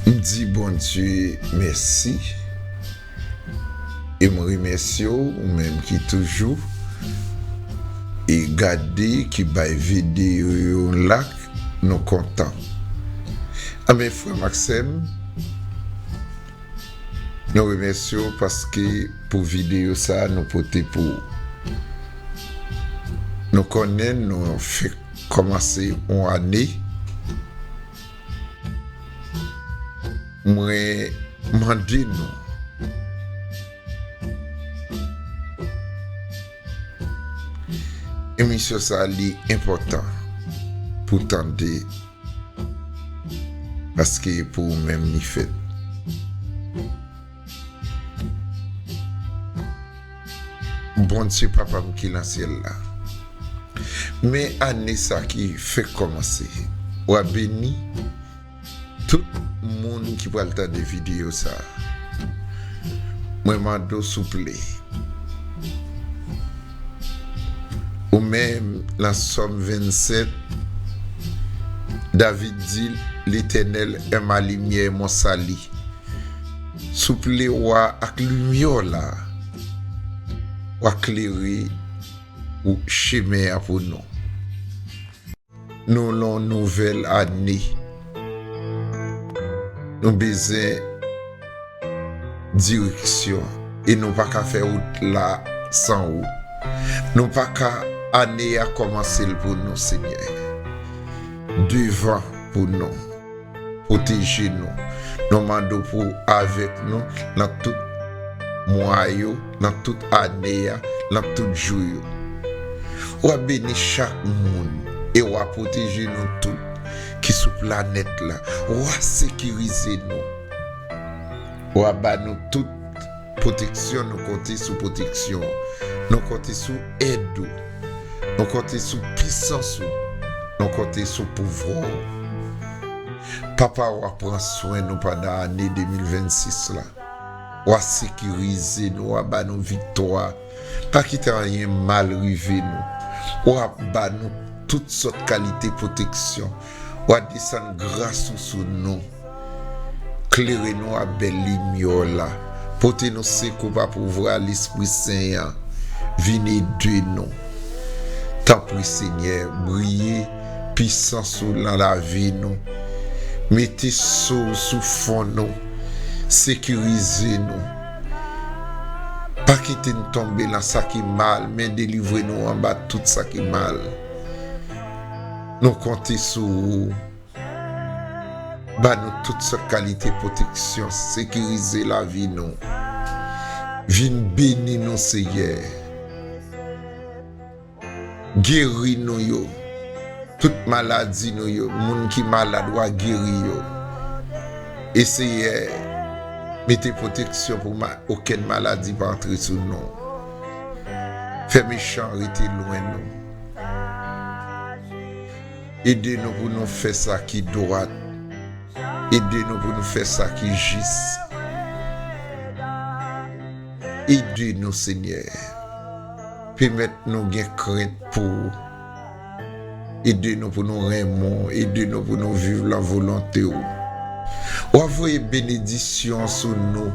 M di Bondye mèsi e m remèsye w ou menm ki toujou e gade ki bay videyo yo lak nou kontan anben frè m ak sè m nou remèsye w paske pou videyo sa nou pote pou ou nou konnen nou fèk Kòmanse yon ane, mwen mande nou. Emisyon sa li enpòtan pou tande paske pou ou menm li fèt. Bondye papa m ki nan syèl la men ane sa ki fenk kòmanse wa beni tout moun ki pral tande video sa mwen mande w souple Ou menm nan sòm 27 David di letènèl è ma limyè e mon sali souple wa ak limyè w la wa klere chemen an pou nou. Nou lan yon nouvèl ane. Nou bezwen direksyon e nou pa ka fè wout la san ou. Nou pa ka ane a kòmanse l pou nou Senyè. Devan pou nou. Pwoteje nou. Nou mande w pou w avèk nou nan tout mwa yo, nan tout ane a, nan tout jou yo. W ap beni chak moun e w a pwoteje nou tout ki sou planèt la. W a sekirize nou. W a ba nou tout. Pwoteksyon Nou konte sou pwoteksyon ou Nou konte sou èd ou Nou konte sou pisans ou Nou konte sou pouvwa ou Papa w a pran swen nou pandan ane 2026 la W a sekirize nou W a ba nou viktwa Pa kite anyen mal rive nou W a ba nou tout sòt kalite pwoteksyon Wa desann gras ou sou nou, klere nou a bèl limyè w la, pote nou sekou pa pouvwa Lespri Sen an, vin ede nou. Tanpri Senyè, briye pisans ou lan lavi nou, mete so w sou fon nou, sekirize nou. Pa kite n tonbe lan sa ki mal, men delivre nou anba tout sa ki mal. Nou konte sou ou ba nou tout sòt kalite pwoteksyon, sekirize lavi nou. Vin beni nou Seyè. Geri nou yo. Tout maladi nou yo, moun ki malad wa geri yo. E Seyè, mete pwoteksyon pou okenn maladi pa antre sou nou. Fè mechan rete lwen nou. Ede nou pou nou fè sa ki dwat. Ede nou pou nou fè sa ki jis. Ede nou, Senyè. Pèmèt nou gen krent pou ou. Ede nou pou nou renmen ou. Ede nou pou nou viv lan volonte ou. W ap voye benedisyon sou nou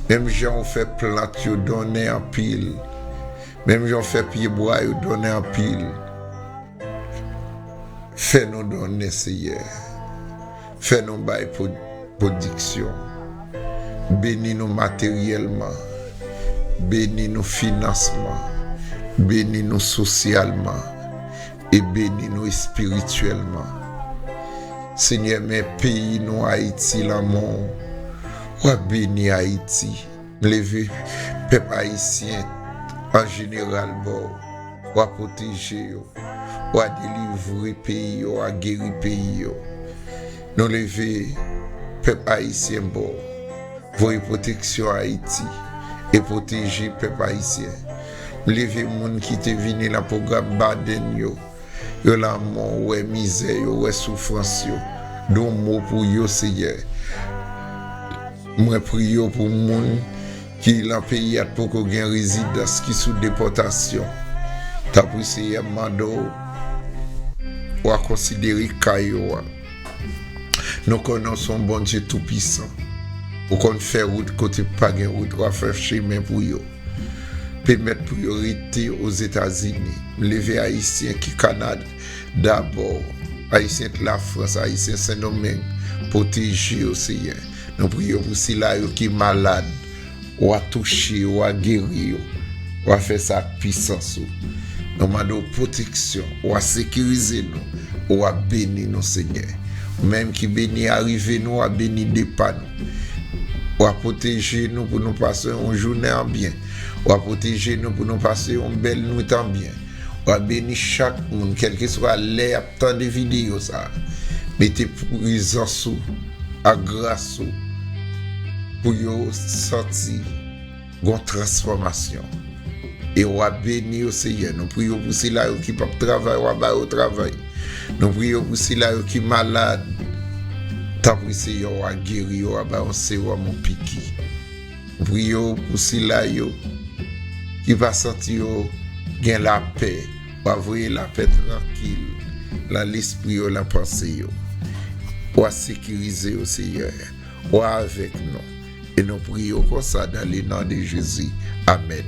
menm jan ou fè plant yo donnen anpil. Menm jan w fè pye bwa yo donnen anpil, fè nou donnen Seyè, fè nou bay pwodiksyon, beni nou materyèlman, beni nou finansman, beni nou sosyalman e beni nou espirityèlman Senyè men peyi nou Ayiti lanmou w wap beni Ayiti. M leve pèp ayisyen an jeneral ba w. Wa pwoteje yo. Wa delivre peyi yo. Wa geri peyi yo. Nou leve pèp ayisyen ba w. Voye pwoteksyon Ayiti e pwoteje pèp ayisyen. M leve moun ki te vini lan pwogram Baden yo. Yo lanmò, wè mizè yo, wè soufrans yo. Don mo pou yo, Seyè. Mwen priyo pou moun ki lan peyi a t poko gen rezidans ki sou depotasyon tanpri seyè m mande w wa konsidere ka yo a nou konnen w son bondye tou pisan ou konn fè rout kote pa gen rout wa fè chemen pou yo pemèt pou yo rete ozetazini m leve ayisyen ki kanada. Dabò, Ayisyen k Lafrans, Ayisyen Sendomeng, pwoteje yo, Seyè. Nou priye w pou sila yo ki malad, w a touche yo, w a geri yo. W a fè sa ak pisans ou. Nou mande w pwoteksyon, w a sekirize nou, w a beni nou, Senyè. Ou menm ki beni arive nou, w a beni depa nou. W a pwoteje nou pou nou pase yon jounen an byen. W a pwoteje nou pou nou pase yon bèl nwit an byen. Wap beni chak moun kelkeswa lè yap tande video sa mete prezans ou ak gras ou pou yo santi gon transfòmasyon e wap beni yo Senyè nou priye w pou sila yo ki pap travay wa ba yo travay nou priye w pou sila yo ki malad tanpri Senyè wa geri yo wa ba yo yon sewòm yon piki. M priye w pou sila yo ki pa santi yo gen lapè, wa voye lapè trankil lan lespri yo, lan panse yo. Wa sekirize yo Seyè, wa avèk nou e nou priye w konsa dan le non de Jezi. Amèn.